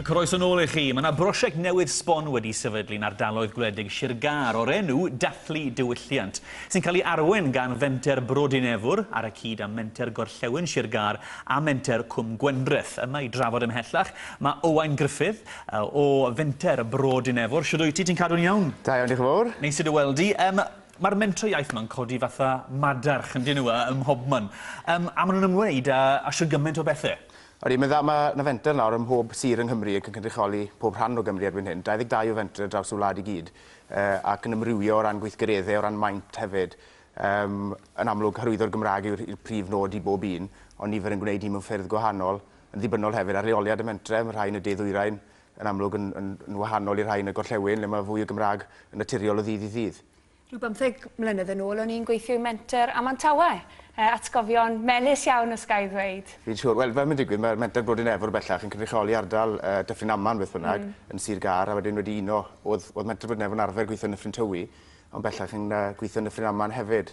Croeso nôl i chi. Mae yna brosiect newydd sbon wedi sefydlu yn ardaloedd gwledig Sir Gâr o'r enw Dathlu Diwylliant, sy'n cael ei arwain gan fenter Brodyn Efwr ar y cyd â menter Gorllewin Sir Gâr a menter Cwm Gwendreth. Yma i drafod ymhellach, mae Owain Gruffydd o fenter Brodyn Efwr. Siwr wyt ti, ti'n cadw'n iawn? Da iawn, diolch yn fawr. Neis i dy weld di. Um, Mae'r Mentro Iaith ma'n codi fatha madarch yndyn nhw yy ym mhobman. Yym a ma' nhw'n ymwneud â â shwd gymaint o bethe. Ydi, mae'n dda, ma' 'na fenter nawr ym mhob sir yng Nghymru ac yn cynrychioli pob rhan o Gymru erbyn hyn. 22 o fentre ar draws y wlad i gyd yy ac yn amrywio o ran gweithgaredde, o ran maint hefyd. Yym yn amlwg hyrwyddo'r Gymraeg yw'r yw'r prif nod i bob un ond nifer yn gwneud hyn mewn ffyrdd gwahanol, yn ddibynnol hefyd ar leoliad y mentre, ma' rhai yn y de-ddwyrain, yn amlwg yn, yn, yn wahanol i'r rhai yn y gorllewin, le mae fwy o Gymraeg yn naturiol o ddydd i ddydd. Rhyw bymtheg mlynedd yn ôl o'n i'n gweithio i menter Amantawe. E, atgofion melys iawn os ga i ddweud. Fi'n siŵr. Wel, fel mae'n digwydd, mae'r menter Brodyn Efr bellach yn cynrychioli ardal uh, Dyffryn Aman beth bynnag, mm. yn Sir Gar, a wedyn wedi uno, oedd, oedd menter Brodyn Efr yn arfer gweithio yn Nyffryn Tywi, ond bellach yn uh, gweithio yn Nyffryn Aman hefyd.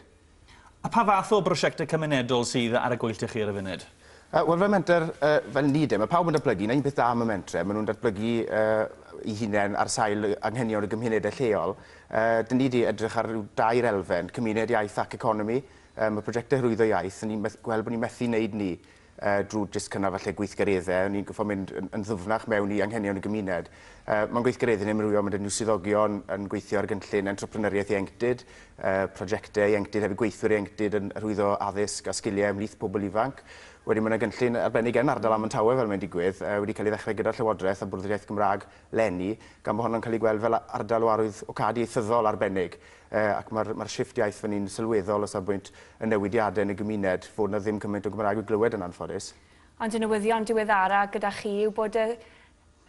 A pha fath o brosiectau cymunedol sydd ar y gweill 'da chi ar y funud? Yy, wel fel menter, yy, fel ni de, ma' pawb yn datblygu, 'na un peth da am y mentre, ma' nhw'n datblygu, yy, 'u hunain ar sail y anghenion y gymunedau lleol. Yy, 'dyn ni 'di edrych ar ryw dair elfen, cymuned, iaith ac economi. Yy, ma' projectau hyrwyddo iaith, 'dyn ni'n meth- gweld bod ni'n methu neud 'ny. yy drwy jyst cynnal falle gweithgareddau, o'n i'n gorfod mynd yn, yn ddwfnach mewn i anghenion y gymuned. Uh, Mae'n gweithgareddau yn amrywio, mae dyn swyddogion yn gweithio ar gynllun entrepreneuriaeth ieuenctid, uh, prosiectau ieuenctid hefyd gweithwyr ieuenctid yn rhwyddo addysg a sgiliau ymhlith pobl ifanc. Wedyn mae yna gynllun arbennig yn ardal am Tawe fel mae'n digwydd, uh, wedi cael ei ddechrau gyda'r Llywodraeth a Bwrdd yr Iaith Gymraeg lenni, gan bod honno'n cael ei gweld fel ardal o arwydd o cad ieithyddol arbennig. ac mae'r mae'r shifft iaith fan hyn sylweddol o safbwynt y newidiadau yn y gymuned, fod 'na ddim cymaint o Gymraeg i'w glywed yn anffodus. Ond y newyddion diweddara gyda chi yw bod y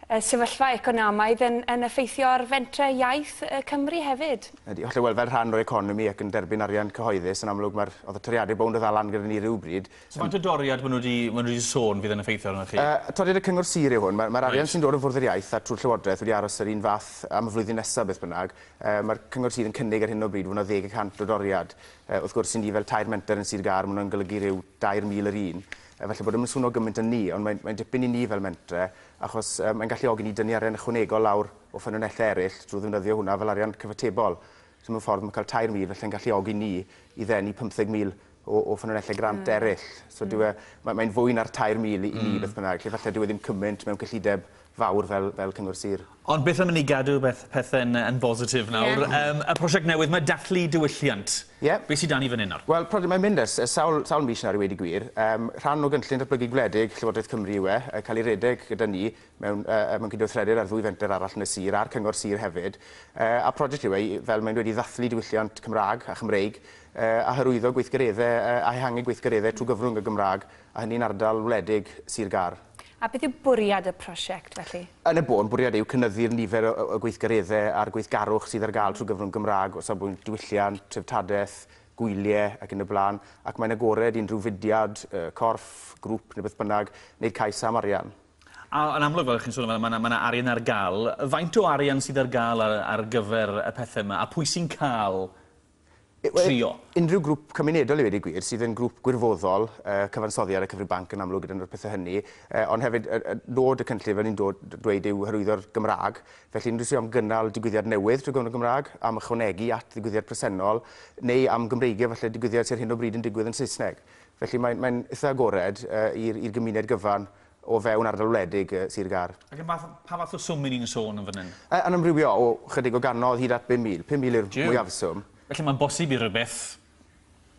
y sefyllfa economaidd yn yn effeithio ar fentre iaith y Cymry hefyd. Ydy, hollol, wel fel rhan o'r economi ac yn derbyn arian cyhoeddus yn amlwg mae'r oedd y toriadau bownd o ddal lan gyda ni rywbryd. So faint o doriad maen nhw wedi maen nhw wedi sôn fydd yn effeithio arnoch chi? Yy toriad y cyngor sir yw hwn, mae'r mae'r arian sy'n dod o fwrdd yr iaith a trwy'r llywodraeth wedi aros yr un fath am y flwyddyn nesaf beth bynnag, Mae'r cyngor sir yn cynnig ar hyn o bryd fod yna ddeg y cant o doriad. Wrth gwrs, i ni fel tair menter yn Sir Gâr, mae hwnna'n golygu rhyw 2,000 yr un. Falle bod e ddim yn swno gymaint â ni, ond mae'n dipyn i ni fel mentre, achos mae'n galluogi ni dynnu arian ychwanegol lawr o ffynonellau eraill drwy ddefnyddio hwnna fel arian cyfatebol. So mewn ffordd, mae cael 2,000 falle yn galluogi ni i ddenu 50,000 o ffynonellau grant eraill. So dyw e... mae'n fwy na'r 2,000 i ni beth bynnag. Felly falle dyw e ddim cymaint mewn cyllideb fawr fel fel cyngor sir. Ond beth am i ni gadw beth pethe'n yn bositif nawr. Ie. Yym y prosiect newydd 'ma, Dathlu Diwylliant. Ie. Be' sy 'da ni fan 'yn nawr? Wel prosiect mae'n mynd ers ers sawl sawl mis nawr i weud y gwir. Yym rhan o gynllun datblygu gwledig Llywodraeth Cymru yw e, yy cael ei redeg gyda ni mewn yy yy mewn cydweithredir â'r ddwy fenter arall yn y sir a'r cyngor sir hefyd. Yy a prosiect yw e i fel mae'n dweud i ddathlu diwylliant Cymra'g a Chymreig yy a hyrwyddo gweithgaredde yy a ehangu gweithgaredde trwy gyfrwng y Gymra'g a hynny'n ardal wledig sir Gâr. A beth yw bwriad y prosiect, felly? Yn y bôn, bwriad yw cynyddu'r nifer o o gweithgareddau a'r gweithgarwch sydd ar gael trwy gyfrwng Gymraeg o safbwynt diwylliant, treftadaeth, gwyliau ac yn y blaen, ac mae'n agored i unrhyw fudiad, corff, grŵp neu beth bynnag wneud cais am arian. A yn amlwg, fel chi'n sôn amdano, mae 'na mae 'na arian ar gael. Faint o arian sydd ar gael ar ar gyfer y pethau yma, a pwy sy'n cael trio. Unrhyw grŵp cymunedol i ddweud y gwir, sydd yn grŵp gwirfoddol, uh, cyfansoddi ar y cyfrif banc yn amlwg gyda'n o'r pethau hynny, uh, ond hefyd uh, uh, nod y cynllun fel ni'n dweud yw hyrwyddo'r Gymraeg, felly unrhyw sydd am gynnal digwyddiad newydd trwy gyfrwng y Gymraeg, am ychwanegu at ddigwyddiad presennol, neu am Gymreigio felly digwyddiad sy'n hyn o bryd yn digwydd yn Saesneg. Felly mae'n mae eitha agored uh, i'r gymuned gyfan o fewn ardal wledig Sir Gâr. Ac am fath, pa fath o swm 'yn ni'n sôn yn fan hyn? Yy yn amrywio o 'chydig o gannoedd hyd at 5,000. 5,000 yw'r mwyafswm. Felly mae'n bosib i rywbeth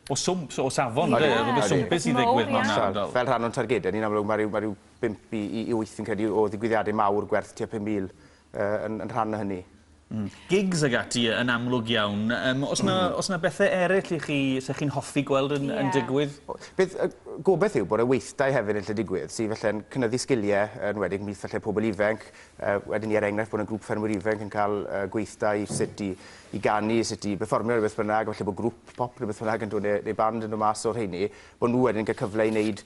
o swmp, so o safon, ynde? Odi, odi. Rhywbeth swmpus i ddigwydd mewn ardal. Fel rhan o'n targedau ni, yn amlwg, mae rhyw, mae rhyw bump i, i, i wyth, fi'n credu, o ddigwyddiadau mawr gwerth tua 5,000 yn yn rhan o hynny. Mm. Gigs ag ati yn amlwg iawn. Yym o's 'na o's 'na bethe eryll i chi 'se chi'n hoffi gweld yn yn digwydd? O, beth y gobeth yw bod y weithdai hefyd yn lle digwydd sy falle'n cynyddu sgilie yn wedig mith falle pobl ifenc yy wedyn ni er enghraifft bod y grŵp ffermwyr ifenc yn cael yy gweithdai sut i i ganu, sut i berfformio neu beth bynnag, falle bod grŵp pop neu beth bynnag yn dod ne' neu band yn dod mas o'r rheini, bo' nhw wedyn yn cael cyfle i wneud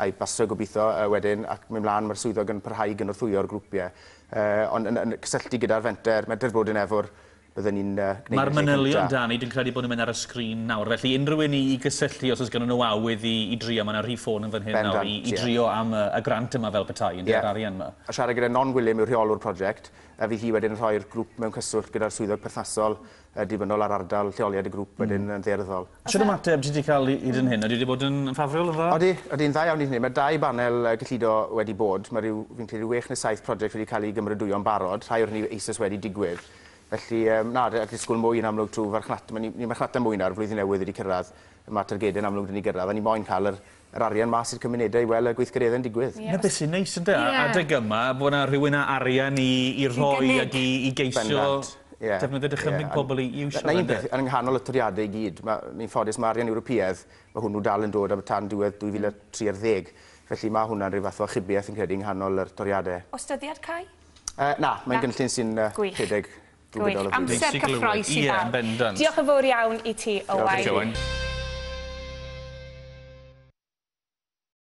I Basra gobeithio wedyn ac mynd mlaen mae'r swyddog yn parhau i gynorthwyo'r grwpiau ond yn yn cysylltu gyda'r fenter Medredd Brodyn Efor bydden ni'n gwneud y lle cynta'. Mae'r manylion da ni dwi'n credu bod nhw'n mynd ar y sgrin nawr felly unrhyw un i i gysylltu os oes gynnon nhw awydd i i drio mae 'na rhif ffôn yn fan hyn nawr i i drio am y y grant yma fel petai ynde yr arian 'ma. Siarad gyda Non Gwilym yw'r rheolwr project a fydd hi wedyn yn rhoi'r grŵp mewn cyswllt gyda'r swyddog perthnasol Yn ddibynnol ar ardal lleoliad y grŵp wedyn yn ddaearyddol. Shwt ymateb ti 'di cael i hyn? Ydy e 'di bod yn ffafriol, yn dda? Odi, odi'n dda iawn i hynny. Mae dau banel gyllido wedi bod. Mae rhyw, fi'n credu, rhyw wech neu saith project wedi cael eu gymrydwyo'n barod, rhai o'r hynny eisoes wedi digwydd. Felly, na, allai ddisgwyl mwy yn amlwg trwy farchnata. Mae ni, ni'n marchnata mwy nawr, flwyddyn newydd wedi cyrraedd, mae targedau'n amlwg wedi cyrraedd, a ni moyn cael yr yr arian mas i'r cymunedau i wel y gweithgareddau'n digwydd. Na beth sy'n neis ynde? Ie. Adeg yma fod yna rhywun a arian i i rhoi ag i i geisio... Bendant. Ie. ...defnyddio dychymyg pobl i i iwsio fe ynde? 'Na un peth, yn nghanol y toriade i gyd ma' ni'n ffodus ma' arian Ewropeaidd ma' hwnnw dal yn dod am tan diwedd 2030 felly ma' hwnna'n rhyw fath o achubiaeth fi'n credu yng nghanol yr toriade. O's dyddiad cau? Yy na, mae'n gynllun sy'n yy... Gwych. ...rhedeg Gwych, amser cyffroes i bawb. Diolch yn fawr iawn i ti, Owain.